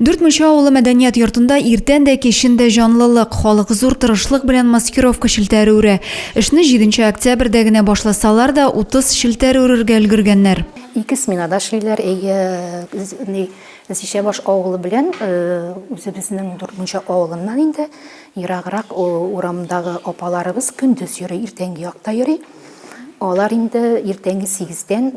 Дүрт Мунча авылы мәдәният йортында иртән дә, кичен дә җанлылык, халык зур тырышлык белән маскировка челтәре үрә. Эшне 7 октябрьдә генә башласалар да, 30 челтәр үрергә өлгергәннәр. Ике сменада эшлиләр. Зишәбаш авылы белән үзебезнең Дүрт Мунча авылыннан инде ераграк урамдагы апаларыбыз көндез йөри, иртәнге якта йөри. Алар инде иртәнге сигездән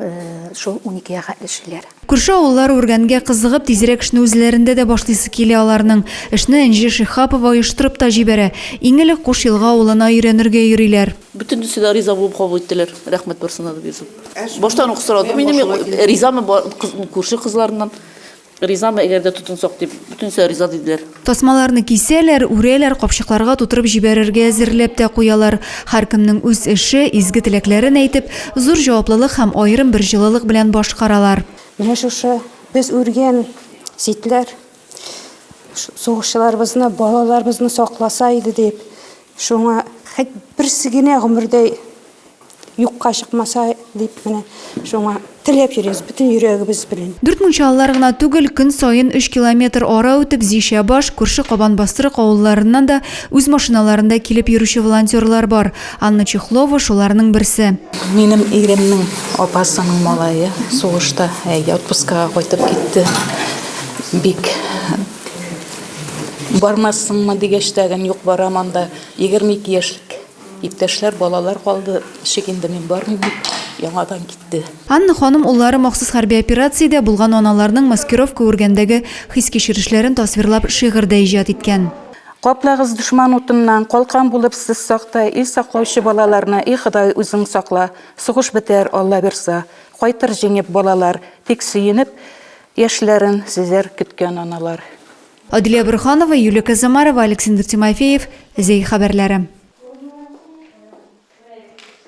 шул уникегә хәтле эшлиләр. Күрше авыллар үргәнгә кызыгып, тизрәк эшне үзләрендә дә башлыйсы килә аларның. Эшне Энҗе Шиһапова оештырып та җибәрә. Иң элек Куш Елга авылына өйрәнергә йөриләр. Бөтенесе дә риза булып кабул иттеләр, рәхмәт барсына да, дип язып. Баштан ук сорадым инде мин, ризамы күрше кызларыннан. Ризамы, әгәр дә тотынсак, дип, бөтенесе риза диделәр. Тасмаларны кисәләр, үрәләр, капчыкларга тутырып җибәрергә әзерләп тә куялар. Һәркемнең үз эше, изге теләкләрен әйтеп, зур җаваплылык һәм аерым бер җылылык белән башкаралар. Менә шушы без үргән читләр сугышчыларыбызны, балаларыбызны сакласа иде дип, шуңа хәт берсе генә гомердә Юкка чыкмаса дип менә шуңа теләп йөрибез бөтен йөрәгебез белән. Дүрт мунчалылар гына түгел, көн саен өч километр ара үтеп Зишәбаш, күрше Кабанбастрык авылларыннан да үз машиналарында килеп йөрүче волонтерлар бар. Анна Чехлова, шуларның берсе. Минем иремнең апасының малае сугышта, әйе, отпускага кайтып китте. Бик бармассыңмы дигәч тә, юк, барам анда, егерме ике яшьлек. Иптәшләр, балалар калды, ничек инде мин бармыйм дип, яңадан китте. Анна ханым уллары махсус хәрби операциядә булган аналарның маскировка үргәндәге хис-кичерешләрен тасвирлап шигырь дә иҗат иткән. Каплагыз дошман утыннан, калкан булып сез сакта, ил саклаучы балаларны, и Ходай, үзең сакла. Сугыш бетәр, Алла бирса. Кайтыр җиңеп балалар, тик сөенеп яшьләрен сөзәр көткән аналар. Аделя Борһанова, Юлия Казамарова, Александр Тимофеев, Зәй хәбәрләре.